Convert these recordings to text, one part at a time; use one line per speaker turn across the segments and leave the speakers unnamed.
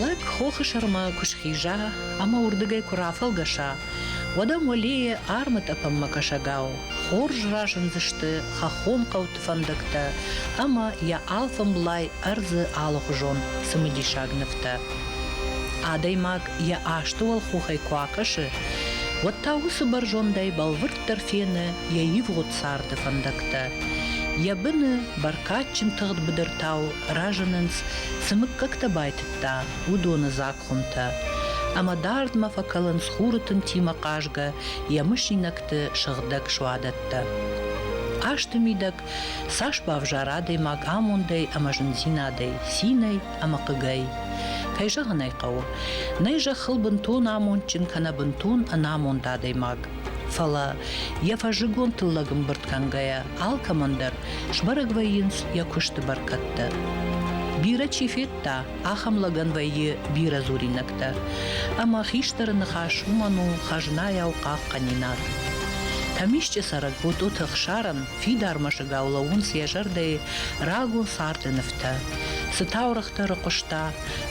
Лӕг хохы сӕрмӕ куы схиза ӕмӕ уырдыгӕй куы рафӕлгӕса, уӕд ӕм уӕлейы армытъӕпӕнмӕ кӕсӕгау хорз разындзысты хӕххон хъӕуты фӕндӕгтӕ ӕмӕ йӕ алфӕмблай ӕрдзы алыхуызон цымыдисаг нывтӕ. Адӕймаг йӕ асты уӕлхохӕй куы акӕсы, уӕд та уыцы бӕрзондӕй бӕлвырд уӕддӕр фены йӕ ивгъуыд царды фӕндӕгтӕ. Йӕ быны бӕркадджын тыгъд быдыртау разынынц, цы мыггӕгтӕ байтыдта, уыдоны дзаг хуымтӕ. Ӕмӕ дардмӕ фӕкӕлынц хуры тынтимӕ хъазгӕ йӕ мысинӕгты сыгъдӕг суадӕттӕ. Хъазты мидӕг цас бавзара адӕймаг амондӕй ӕмӕ зындзинадӕй, цинӕй ӕмӕ хъыгӕй. Кӕй зӕгъын ӕй хъӕуы, нӕй зӕххыл бынтон амондджын кӕнӕ бынтон ӕнамонд адӕймаг. Фӕлӕ, йӕ фӕззыгон тыллӕг ӕмбырд кӕнгӕйӕ, алкӕмӕн дӕр сбӕрӕг вӕййынц йӕ куысты бӕркӕдтӕ. Бирӕ чи федта, ахӕм лӕгӕн вӕййы бирӕ дзуринӕгтӕ. Ӕмӕ хистӕры ныхас уымӕн у хӕзнайау хъахъхъӕнинаг. Тӕмисчъы цӕрӕг Ботъоты Ӕхсарӕн фидар мӕсыгау лӕууынц йӕ зӕрдӕйы рагон царды нывтӕ, цы таурӕгътӕ рыхъуыста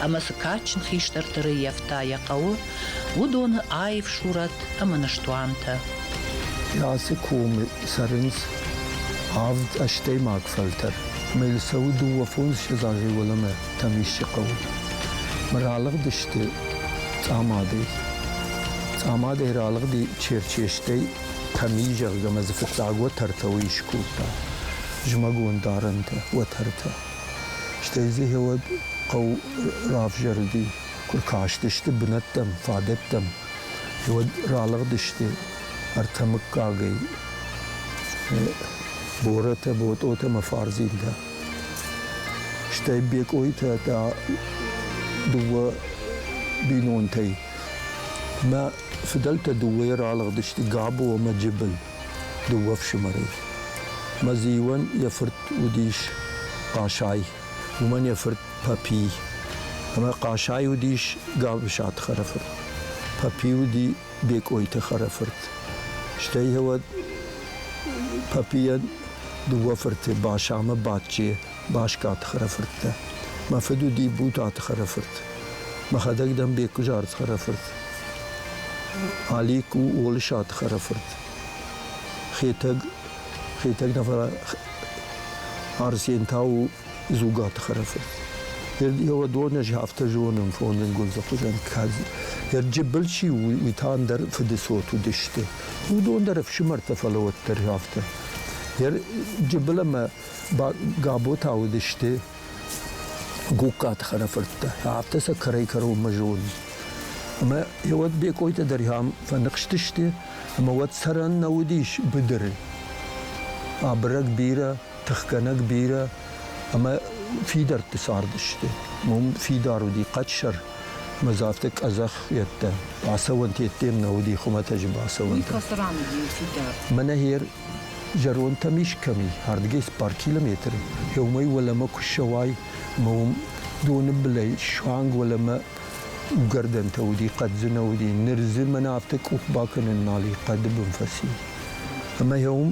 ӕмӕ цы кадджын хистӕрты рыййӕфта йӕ хъӕуы, уыдоны аив сурӕт ӕмӕ ныстуантӕ.
Ацы комы цӕрынц авд ӕстӕймаг фӕлтӕр. Мелисауы дыууӕ фондзыссӕдз азӕй уӕлӕмӕ Тӕмисчы хъӕуы. Ралыгъдысты Цъамадӕй. Цъамадӕй ралыгъди Черчестӕй Тӕми, зӕгъгӕ, ӕмӕ дзы фыццаг уӕтӕртӕ уый скодта. Зымӕгон дарӕнтӕ, уӕтӕртӕ. Стӕй дзы гъеуӕд хъӕу равзӕрди Куы кастысты бынӕттӕм, фадӕттӕм, уӕд ралыгъдысты ӕртӕ мыггагӕй Боротӕ, Ботъотӕ ӕмӕ Фарзинтӕ. Стӕй Бекъойтӕ та дыууӕ бинонтӕй. Мӕ фыдӕлтӕ дыууӕйӕ ралыгъдысты Габо ӕмӕ Джыбыл, дыууӕ фсымӕрӕй. Мӕ зиуӕн йӕ фырт уыдис Хъасай, уымӕн йӕ фырт Папи. Ӕмӕ Хъасай уыдис Габысаты хӕрӕфырт. Папи уыди Бекъойты хӕрӕфырт. Стӕй йӕ Папийӕн дыууӕ фырты Башамӕ Бачче Баскаты хӕрӕфырттӕ. Мӕ фыд уыди Бутаты хӕрӕфырт. Мӕхӕдӕг дӕн Беккуызард хӕрӕфырт. Алик у Олысаты хӕрӕфырт. Хетӕг, Хетӕг нӕ фӕлӕ Арсен та у Дзугаты Хӕрӕфы. Йӕ донӕжи афтӕ зонын фонын гундзы хуызӕн кӕд йӕ джыбыл чи у, уый та ӕндӕр фыдыцот уыдысты. Уыдон дӕр ӕфсымӕртӕ фӕлӕ уӕддӕр афтӕ. Йӕ джыбыл ӕмӕ габотӕ уыдысты Гугкаты хӕрӕфырттӕ. Афтӕ сӕ кӕрӕй-кӕронмӕ зоны. Ӕмӕ уӕд Бекъойтӕ дӕр йӕм фӕныхстысты, ӕмӕ уӕд цӕрӕн нӕ уыдис быдыры. Абырӕг бирӕ тыхгӕнӕг бирӕ ӕмӕ фидӕртты цардысты. Уым фидар уыди хъӕдсӕр, ӕмӕ дзы афтӕ къӕдзӕх йедтӕ бацӕуӕнт йеддем нӕ уыди хуымӕтӕджы бацӕуӕнтӕ.
Мӕнӕ гьер
зӕронтӕм ис кӕми, ардгӕс бар километр, еумӕй уӕлӕмӕ ку ссӕуай, ӕма уым доны былӕй суанг уӕлӕмӕ угӕрдӕнтӕ уыди, хъӕддзынӕ уыди. Ныр дзы мӕнӕ афтӕ къух бакӕнын нал и, хъӕды бын фӕци. Ӕмӕ гье уым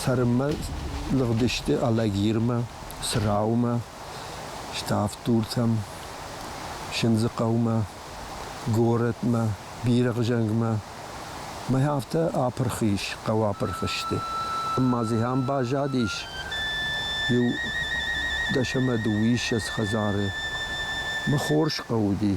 Цӕрынмӕ лыгъдысты Алагирмӕ, Цраумӕ, Ставддуртӕм, Сындзыхъӕумӕ, горӕтмӕ, Бирӕгъзӕнгмӕ. Мӕй афтӕ апырх ис, хъӕу апырх сты. Ӕмӕ дзы ахӕм баззадис иу дӕс ӕмӕ дыууиссӕдз хӕдзары. Мӕ хорз хъӕу уыди.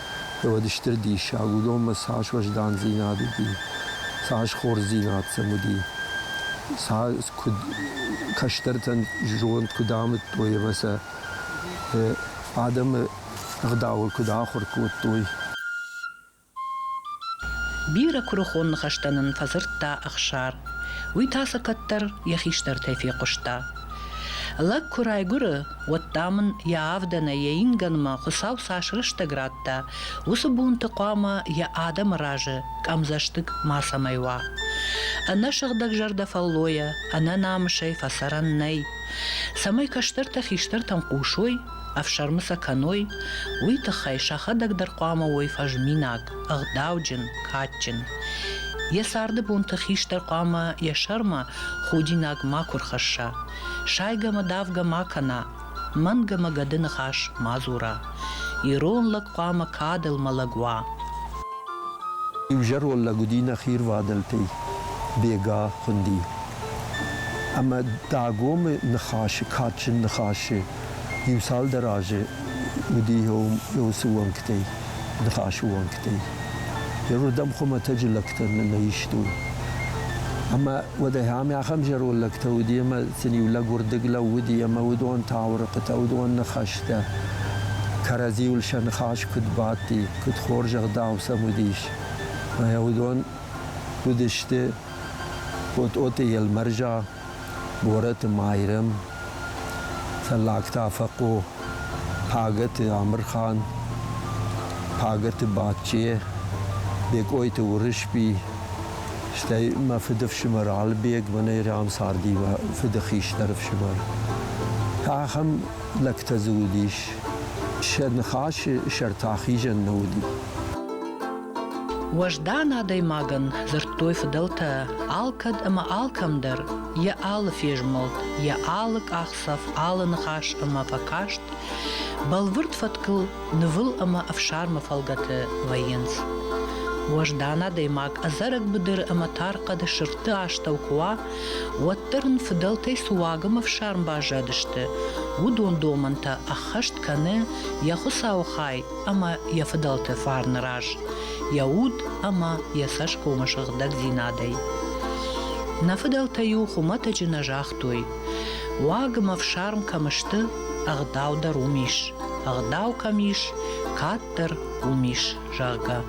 уӕд стыр диссаг уыдонмӕ цас уӕздандзинад уыди, цас хорздзинад сӕм уыди, цас куыд кӕстӕртӕн зонд куыд амыдтой ӕмӕ сӕ адӕмы ӕгъдауыл куыд ахуыр кодтой.
Бирӕ куырыхон ныхӕстӕ нын фӕдзырдта Ӕхсар. Уый та сӕ кӕддӕр йӕ хистӕртӕй фехъуыста. Лӕг куы райгуыры, уӕд, дам ын йӕ авдӕнӕй йӕ ингӕнмӕ Хуыцау цас рӕстӕг радта, уыцы бонты хъуамӕ йӕ адӕмы разы къӕмдзӕстыг мацӕмӕй уа. Ӕнӕ сыгъдӕгзӕрдӕ фӕллойӕ, ӕнӕ намысӕй фӕцӕрӕн нӕй. Цӕмӕй кӕстӕртӕ хистӕртӕм хъусой, ӕфсӕрмы сӕ кӕной, уый тыххӕй сӕхӕдӕг дӕр хъуамӕ уой фӕзминаг, ӕгъдауджын, кадджын. Йӕ царды бонты хистӕр хъуамӕ йӕ сӕрмӕ худинаг макуы рхӕсса. Сайгӕмӕ-давгӕ ма кӕна, мӕнгӕмӕ гӕды ныхас ма дзура. Ирон лӕг хъуамӕ кадыл мӕлӕг уа.
Иузӕрон лӕг уыди нӕхи рвадӕлтӕй Бега хуынди. Ӕмӕ Дагомы ныхасы, кадджын ныхасы Иу-цалдӕр азы уыди уыцы уӕнгтӕй, ныхасы уӕнгтӕй. Иуырдӕм хуымӕтӕджы лӕгтӕ нӕ истой. Ӕмӕ уӕдӕй ам ахӕм зӕронд лӕгтӕ уыди, ӕмӕ сын-иу лӕг уырдыг лӕууыди, ӕмӕ уыдон таурыхъытӕ, уыдон ныхӕстӕ кӕрӕдзиуыл сӕ ныхас куыд бадти, куыд хорз ӕгъдау сӕм уыдис. Ӕмӕ уыдон уыдысты Тъотъоты Елмӕрза, Борӕты Майрӕм, Цӕллагта Фӕхъо, Пагӕты Амырхан, Пагӕты Бачче, Бекъойты Уырысби, стӕй мӕ фыдыфсымӕр Алыбег, мӕнӕй рӕм царди мӕ фыды хистӕр ӕфсымӕр. Ахӕм лӕгтӕ дзы уыдис. Сӕ ныхасы сӕр та хизӕн нӕ уыди.
Уӕздан адӕймагӕн дзырдтой фыдӕлтӕ алкӕд ӕмӕ алкӕмдӕр йӕ алы фезмӕлд, йӕ алы къахдзӕф, алы ныхас ӕмӕ фӕкаст бӕлвырд фӕткыл нывыл ӕмӕ ӕфсармы фӕлгӕты вӕййынц. Уӕздан адӕймаг ӕдзӕрӕг быдыры ӕмӕ тар хъӕды сырдты астӕу куы уа, уӕддӕр ын фыдӕлтӕй цы уагӕмӕ фсарм баззадысты, уыдон домӕнтӕ ӕххӕст кӕны йӕ Хуыцауы хай ӕмӕ йӕ фыдӕлты фарны раз йӕ уд ӕмӕ йӕ цӕсгомы сыгъдӕгдзинадӕй. Нӕ фыдӕлтӕ-иу хуымӕтӕджы нӕ загътой, уаг ӕмӕ фсарм кӕм сты, ӕгъдау дӕр уым ис, ӕгъдау кӕм ис, кӕддӕр уым ис, зӕгъгӕ.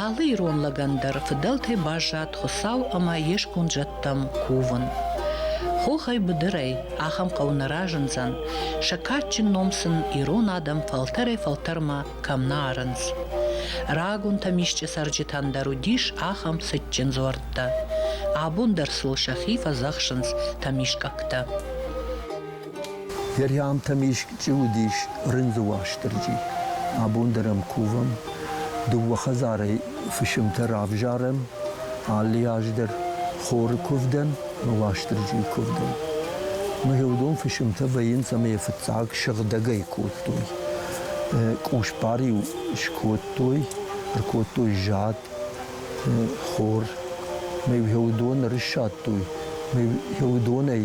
Алы ирон лӕгӕн дӕр фыдӕлтӕй баззад Хуыцау ӕмӕ йе сконд зӕдтӕм кувын. Хохӕй быдырӕй ахӕм хъӕу нӕ разындзӕн, сӕ кадджын ном сын ирон адӕм фӕлтӕрӕй-фӕлтӕрмӕ кӕм нӕ арынц. Рагуынтӕм исчи цӕрджытӕн дӕр уыдис ахӕм цытджын дзуӕрттӕ. Абон дӕр сыл сӕхи фӕдзӕхсынц тӕмискъӕгтӕ.
Верхӕмтӕм исчи уыдис рындзы Уастырджи. Абон дӕр ӕм кувӕм. Дыууӕ хӕдзарӕй фысымтӕ равзарӕм. Алы аз дӕр хоры куывдӕн ӕмӕ Уастырджийы куывдӕн. Мгъеудон фысымтӕ вӕййынц ӕмӕ йӕ фыццаг сыгъдӕгӕй кодтой. Къусбар-иу скодтой, ӕркодтой зад, хор. Мӕ уыдон ӕрыссадтой. Мӕ уыдонӕй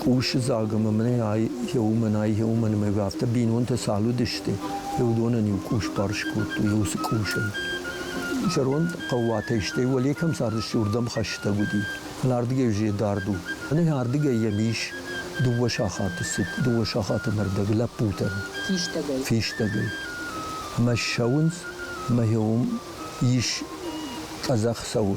Къусы дзаг ӕмӕ мӕнӕй йӕ уымӕн, йӕ уымӕн ӕмӕ афтӕ бинонтӕ цал уыдысты, йӕ уыдонӕн-иу къус барс кодтой, уыцы къусӕй. Зӕронд хъӕууатӕй, стӕй Уӕлекӕм цардысты, уырдӕм хӕстӕг уыди. Фӕлӕ ардыгӕй уызӕй дард у. Мӕнӕ ардыгӕй йӕм ис дыууӕ сахаты цыд, дыууӕ сахаты нӕрдӕг лӕппутӕ. Фистӕгӕй. Фистӕгӕй. Ӕмӕ ссӕуынц, ӕмӕ йӕ уым ис къӕдзӕх цӕуы.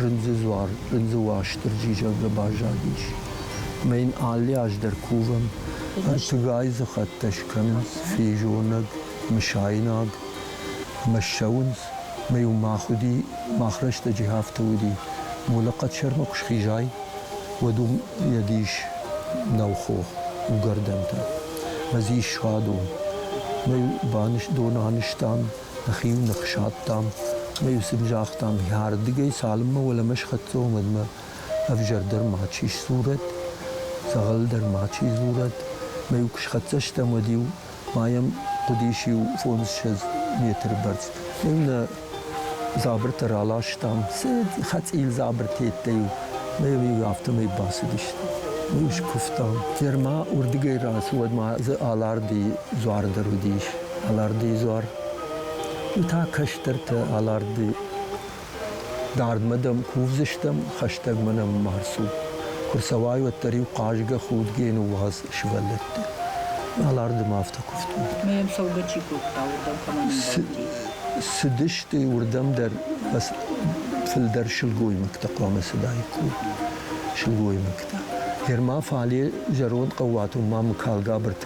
Рындзы дзуар Рындзы Уастырджи зӕгъгӕ баззадис. Ӕмӕ йын алы аз дӕр кувӕм. Тыгайы дзыхӕттӕ скӕнынц физонӕг, мысайнаг ӕмӕ ссӕуынц. Ӕмӕ-иу мах уыди, мах рӕстӕджы афтӕ уыди. Молыхъӕд сӕрмӕ куы схизай, уӕд уым йӕ дис нӕу хох, угӕрдӕнтӕ. Ӕмӕ дзы ис садон. Ӕмӕ-иу доны анызтам, Нӕхи-иу ных садтам ӕмӕ-иу сын загътам, йӕрдыгӕй цалынмӕ уӕлӕмӕ схӕццӕ уымӕнмӕ ӕвзӕр дӕр мачи сдзурӕд, дзӕгъӕл дӕр мачи дзурӕд. Ӕмӕ-иу куы схӕццӕ стӕм, уӕд-иу ма йӕм хъуыдис иу фондзссӕдз метры бӕрц. Ӕмӕ-иу нӕ дзабыртӕ раластам, цы хӕцъил дзабыртӕ йедтӕ-иу, ӕмӕ-иу афтӕмӕй бацыдысты. Ӕмӕ-иу скуывтам. Ӕрмӕ уырдыгӕй рацу, уӕд ма дзы аларды дзуар дӕр уыдис. алӕрдыйы дзуар. Уый та кӕстӕртӕ алӕрды. Дардмӕ дӕм кувдзыстӕм, хӕстӕгмӕ нӕм ма рцу. Куы рцӕуай, уӕддӕр-иу хъазгӕ худгӕ ныууадз сывӕллӕтты. Алӕрды ма афтӕ куывтой. Ме йӕм цӕугӕ чи
кодта, уырдӕм кӕмӕн ӕмбӕлди? Цыдысты
уырдӕм дӕр фылдӕр сылгоймӕгтӕ хъуамӕ цыдаик куы уой. Сылгоймӕгтӕ. Гӕр ма фале зӕронд хъӕууатон ма мыкалгабырты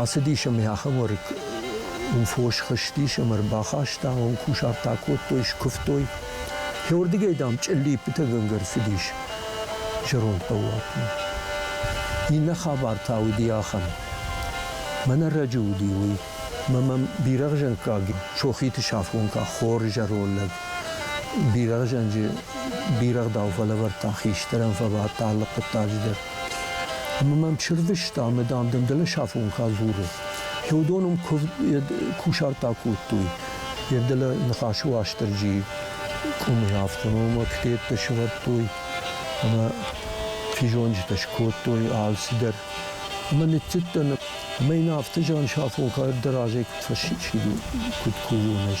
Ацыдис ӕм йӕ ахӕмуарык у фос хызтис ӕмӕ ӕрбахаста, уым кусарт акодтой, скуывтой. Фӕуырдыгӕй, дам, чъыллиппытӕгӕнгӕ ӕрцыдис зӕронд хъӕууатмӕ. Иннӕ хабар та уыди ахӕм. Мӕн ӕрӕджы уыди уый, мӕ мӕм бирӕгъзӕнхъаг сохиты сафгонка хор зӕронд лӕг бирӕгъзӕнджы бирӕгъдау фӕлӕвӕрдта, хистӕрӕн фӕбадт алы хъуыддаджы дӕр. Ӕмӕ мӕм чырвыста ӕмӕ, дам, дын дӕлӕсафонхӕ дзуры. Теодон ӕм кусарттӕ кодтой йӕ дӕлӕ ныхасы Уастырджийы къуымы автономоктеттӕ сывӕрдтой ӕмӕ физонджытӕ скодтой алцыдӕр. Ӕмӕ ныццыдтӕн, ӕмӕ йын афтӕ зӕн сафонхӕ дӕр азӕй куыд фӕсчили, куыд кувон ӕз.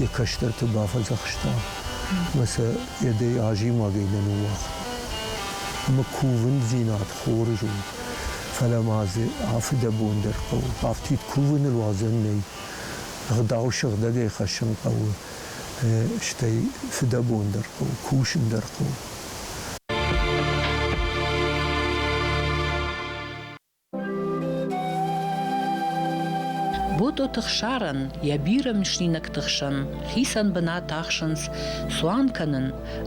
йӕ кӕстӕрты бафӕдзӕхста мӕ сӕ йӕдӕй азимагӕй нӕ ныууагъта. Ӕмӕ кувындзинад хорз у, фӕлӕ ма дзы афыдӕбон дӕр хъӕуы. Афтид кувыныл уадзӕн нӕй. Ӕгъдау сыгъдӕгӕй хӕссын хъӕуы, стӕй фыдӕбон дӕр хъӕуы, кусын дӕр хъӕуы.
Ботъоты хсарӕн йӕ бирӕ мысинӕгты хсӕн хицӕн бынат ахсынц цуан кӕнын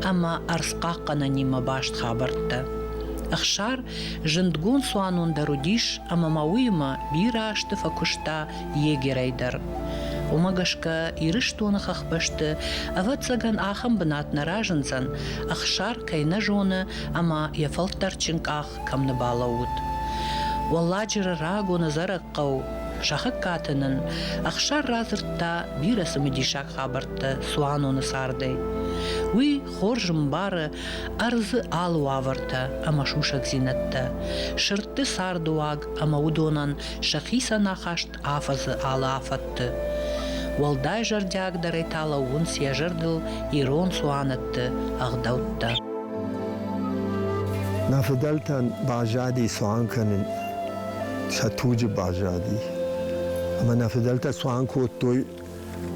ӕмӕ ӕрдзхъахъхъӕнӕнимӕ баст хабӕрттӕ. Ӕхсар зындгонд цуанон дӕр уыдис ӕмӕ ма уыимӕ бирӕ азты фӕкуыста егерӕй дӕр. Уымӕ гӕсгӕ Ирыстоны хӕхбӕсты, ӕвӕццӕгӕн, ахӕм бынат нӕ разындзӕн, Ӕхсар кӕй нӕ зоны ӕмӕ йӕ фӕлтӕрдджын къах кӕм нӕ балӕууыд. Уӕлладжыры рагоны зарӕг хъӕу Сахыккаты нын ӕхсар радзырдта бирӕ цымыдисаг хабӕрттӕ цуаноны цардӕй. Уый хорз ӕмбары ӕрдзы алы уавӕртӕ ӕмӕ сусӕгдзинӕдтӕ, сырдты цардыуаг ӕмӕ уыдонӕн сӕхицӕн ахаст афӕдзы алы афӕдты. Уӕлдай зӕрдиагдӕрӕй та лӕууынц йӕ зӕрдыл ирон цуанӕтты ӕгъдӕуттӕ.
Нӕ фыдӕлтӕн баззади цуан кӕнын сӕ туджы баззади. Ӕмӕ нӕ фыдӕлтӕ цуан кодтой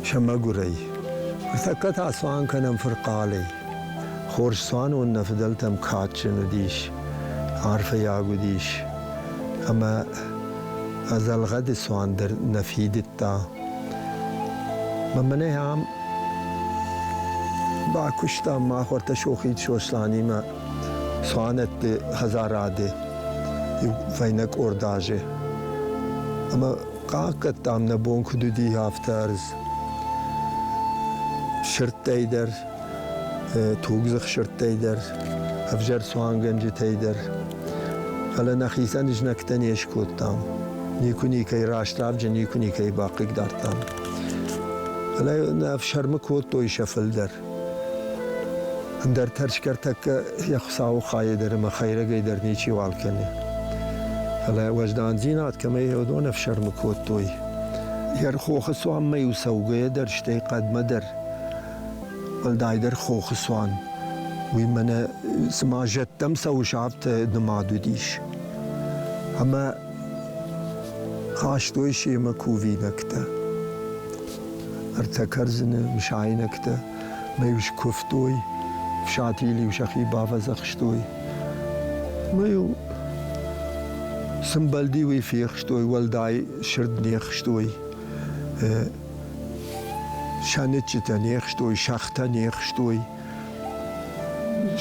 сӕ мӕгуырӕй. Ныртӕккӕ та цуан кӕнӕм фырхъалӕй. Хорз цуанон нӕ фыдӕлтӕм кадджын уыдис, арфӕйаг уыдис. Ӕмӕ ӕдзӕлгъӕды цуан дӕр нӕ фидыдта. Мӕнӕ ам бакуыстам мах ӕртӕ Сохид Сосланимӕ цуанӕтты хӕдзарады иу фӕйнӕ къорд азы. Ӕмӕ Хъахъхъӕдтам, нӕ бон куыд уыди, афтӕ ӕрдз. Сырдтӕй дӕр, тугдзых сырдтӕй дӕр, ӕвзӕр цуангӕнджытӕй дӕр. Фӕлӕ нӕхицӕн знӕгтӕ не скодтам. Никуы никӕй раст равджын, никуы никӕй бахъыгдардтам. Фӕлӕ нӕ ӕфсӕрмы кодтой сӕ фылдӕр. Ӕндӕр тӕрсгӕ тӕккӕ йӕ Хуыцауы хайӕ дӕр ӕмӕ хӕйрӕгӕй дӕр ничи уал кӕны. Фӕлӕ уӕздандзинад кӕмӕй уыдон ӕфсӕрмы кодтой, йӕ хохы цуанмӕ-иу цӕугӕйӕ дӕр, стӕй хъӕдмӕ дӕр, уӕлдайдӕр хохы цуан, уый мӕнӕ цыма зӕдтӕм цӕуы сабты нымад уыдис. Ӕмӕ хастой семӕ кувинӕгтӕ. ӕртӕ кӕрдзыны мысайнӕгтӕ мӕ-иу скуывтой, фсатийыл-иу сӕхи бавӕдзӕхстой. Мӕ-иу сымбӕлди уый фехстой, уӕлдай сырд не хстой, сӕныччытӕ не хстой, сӕгътӕ не хстой.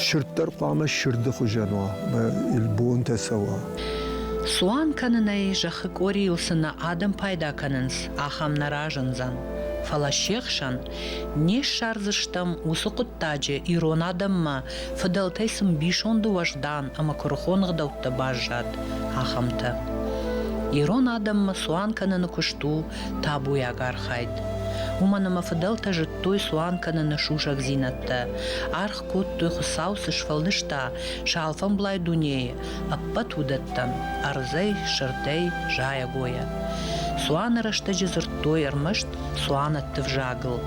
Сырд дӕр хъуамӕ сырды хуызӕн уа, бонтӕ цӕуа. Цуан
кӕнынӕй зӕххы къорийыл цы нӕ адӕм пайда кӕнынц, ахӕм нӕ разындзӕн. Фӕлӕ се хсӕн не ссардзыстӕм уыцы хъуыддаджы ирон адӕммӕ, фыдӕлтӕй сын бисонды уӕздан ӕмӕ куырыхон ӕгъдӕуттӕ баззад, ахӕмтӕ. Ирон адӕммӕ цуан кӕныны куыст у табуйаг архайд. Уымӕн ӕмӕ фыдӕлтӕ зыдтой цуан кӕныны сусӕгдзинӕдтӕ, аргъ кодтой Хуыцау цы сфӕлдыста сӕ алфӕмблай дунейы, ӕппӕт уыдӕттӕн, ӕрдзӕй, сырдӕй, зайӕгойӕ. Цуаны рӕстӕджы дзырдтой ӕрмӕст цуанӕтты взагыл,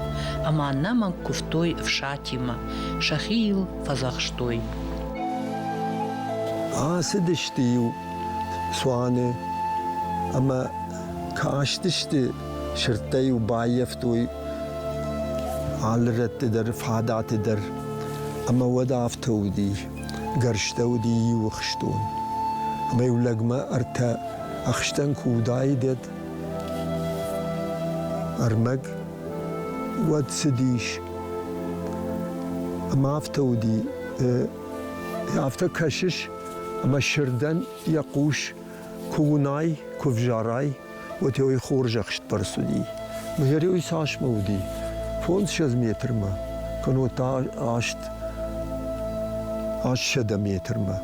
ӕмӕ нӕ мӕнг куывтой ӕфсатимӕ, сӕхи йыл фӕдзӕхстой.
Ацыдысты-иу цуаны ӕмӕ кастысты, сырдтӕ-иу баййӕфтой алы рӕтты дӕр, фадаты дӕр. Ӕмӕ уӕд афтӕ уыди. Гӕрзтӕ уыди иу ӕхстон. Ӕмӕ-иу лӕгмӕ ӕртӕ ӕхстӕн куы уыдаид, ӕрмӕг, уӕд цыдис. Ӕмӕ афтӕ уыди. Афтӕ кӕсыс, ӕмӕ сырдӕн йӕ хъус Куы уынай, куы взарай, уӕдӕй хорзӕхстдӕр цуди. Мыгӕрӕй цасмӕ уыди? Фондзсӕдз метрмӕ, кӕнӕ та аст ассӕдӕ метрмӕ.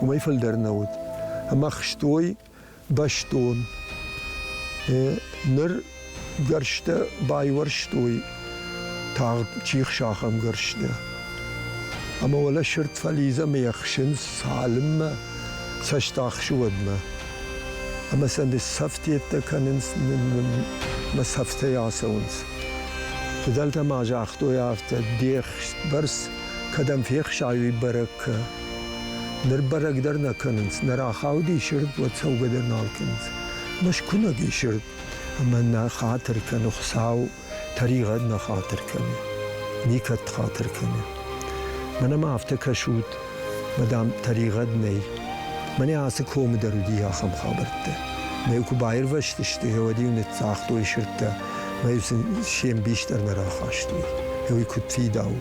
Уымӕй фылдӕр нӕ уыд. Ӕмӕ хстой бӕстон. Ныр Гӕрзтӕ байуӕрстой тагъд чихсахӕмгӕрзтӕ. Ӕмӕ уӕлӕ сырд фӕлидз ӕмӕ ӕхсынц цалынмӕ цӕст ахсы уӕдмӕ. Ӕмӕ сӕ ныццӕфтеттӕ кӕнынц, мӕ цӕфтӕй ацӕуынц. Фыдӕлтӕ ма загътой афтӕ, де бӕрц кӕдӕм фехсай, уый бӕрӕг кӕ. Ныр бӕрӕг дӕр нӕ кӕнынц, нӕ рахауди сырд, уӕд цӕугӕ дӕр нал кӕнынц. Мӕскуынӕг и сырд, Ӕмӕ нӕ хатыр кӕны Хуыцау, тӕригъӕд нӕ хатыр кӕны, никӕд хатыр кӕны. Мӕнӕ ма афтӕ кӕсут, мадам, тӕригъӕд нӕй. Мӕнӕ ацы комы дӕр уыди ахӕм хабӕрттӕ. Мӕ куы баирвӕзтысты, уӕд-иу ныццагътой сырдтӕ, мӕ-иу сын се мбис дӕр нӕ рахастой. Уый куыд фидау!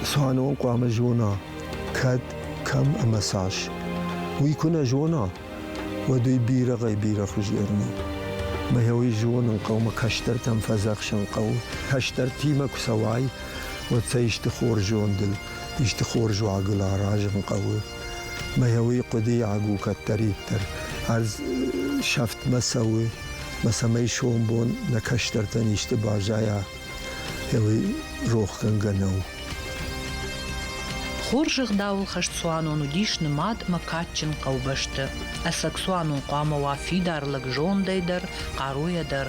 Цуанон хъуамӕ зона, кӕд кӕм ӕмӕ цас, уый куы нӕ зона, уӕд уый бирӕгӕй-бирӕхуыз Ермо. Мӕ уый зонын хъӕумӕ кӕстӕртӕм фӕдзӕхсын хъӕуы. Кӕстӕртимӕ куы цӕуай, уӕд сӕ исты хорз зондыл, исты хорз уагыл аразын хъӕуы. Мӕ уый хъуыдыйаг у кӕддӕриддӕр. Ӕз сӕфтмӕ цӕуы, мӕ цӕмӕй сомбон нӕ кӕстӕртӕн исты баззайа, Эли рохгӕнгӕ нӕу.
Хорз ӕгъдауыл хӕст цуанон уыдис нымад мӕ кадджын хъӕубӕсты. Ӕцӕг цуанон хъуамӕ уа фидар лӕг зондӕй дӕр, хъаруйӕ дӕр,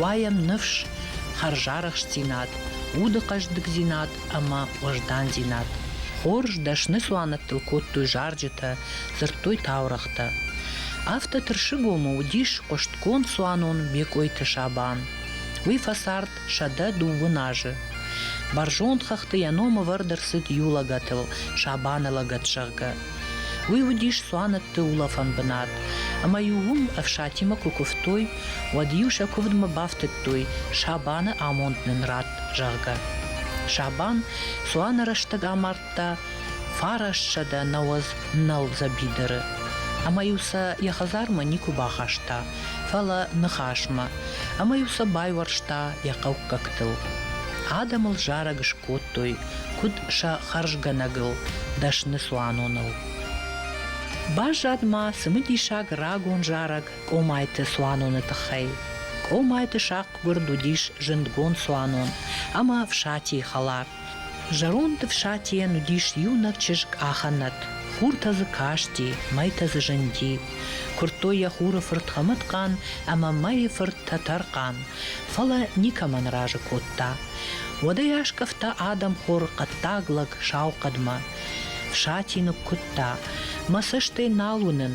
уайӕм ныфс, хӕрзарӕхстдзинад, уды хъӕздыгдзинад ӕмӕ уӕздандзинад. Хорз дӕсны цуанӕттыл кодтой зарджытӕ, дзырдтой таурӕгътӕ. Афтӕ тырсыгомы уыдис хъуыстгонд цуанон Мекъойты Сабан. Уый фӕцард сӕдӕ дыууын азы. Бӕрзонд хӕхты йӕ ном ӕвӕрд ӕрцыд иу лӕгӕтыл, Сабаны лӕгӕт, зӕгъгӕ. Уый уыдис цуанӕтты улӕфӕн бынат, ӕмӕ-иу уым ӕфсатимӕ куы куывтой, уӕд-иу сӕ куывдмӕ бафтыдтой, Сабаны амонд нын ратт, зӕгъгӕ. Сабан цуаны рӕстӕг амард кодта фарассӕдӕ науӕдз нӕл дзӕбидыры ӕмӕ-иу сӕ йӕ хӕдзармӕ никуы бахаста, фӕлӕ ныхасмӕ, ӕмӕ-иу сӕ байуӕрста йӕ хъӕуккӕгтыл. Адӕмыл зарӕг скодтой, куыд сӕ хӕрзгӕнӕгыл, дӕсны цуаноныл. Баззад ма цымыдисаг рагон зарӕг Къомайты цуаноны тыххӕй. Къомайты сахъгуырд уыдис зындгонд цуанон ӕмӕ фсатийы хӕлар. Зӕронд Ӕфсатийӕн уыдис иунӕг чызг Аханат. Хуртӕ дзы касти, мӕйтӕ дзы зынди. Куырдтой йӕ хуры фырт Хӕмӕтхъан ӕмӕ мӕйы фырт Тӕтӕрхъан, фӕлӕ никӕмӕн разы кодта. Уӕдӕй аскъӕфта адӕмхор хъӕддаг лӕг сау хъӕдмӕ. Фсати ныккуыдта, мӕ цӕстӕй нал уынын,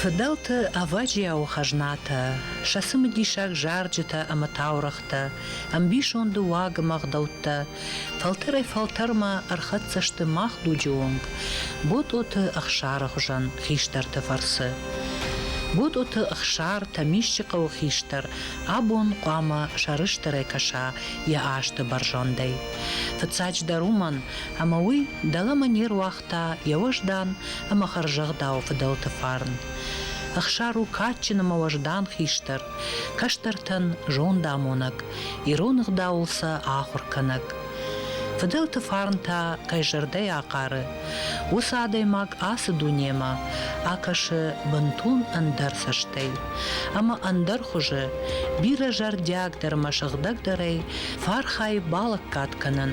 Фыдӕлты ӕвӕджиауы хӕзнатӕ, сӕ цымыдисаг зарджытӕ ӕмӕ таурӕгътӕ, ӕмбисонды уагымӕ гъдӕуттӕ фӕлтӕрӕй-фӕлтӕрмӕ ӕрхӕццӕ сты мах дуджы онг Ботъоты Ӕхсары хуызӕн хистӕрты фӕрцы. Ботъоты Ӕхсар Тӕмисчы хъӕуы хистӕр абон хъуамӕ сӕрыстырӕй кӕса йӕ азты бӕрзӕндӕй. Фыццаджыдӕр уымӕн, ӕмӕ уый дӕлӕмӕ не руагъта йӕ уӕздан ӕмӕ хӕрзӕгъдауы фыдӕлты фарн. Ӕхсар у кадджын ӕмӕ уӕздан хистӕр, кӕстӕртӕн зондамонӕг, ирон ӕгъдауыл сӕ ахуыр кӕнӕг. Фыдӕлты фарн та кӕй зӕрдӕйы ахъары, уыцы адӕймаг ацы дунемӕ акӕсы бынтон ӕндӕр цӕстӕй ӕмӕ ӕндӕр хуызы, бирӕ зӕрдиагдӕр ӕмӕ сыгъдӕгдӕрӕй фӕархайы балӕггад кӕнын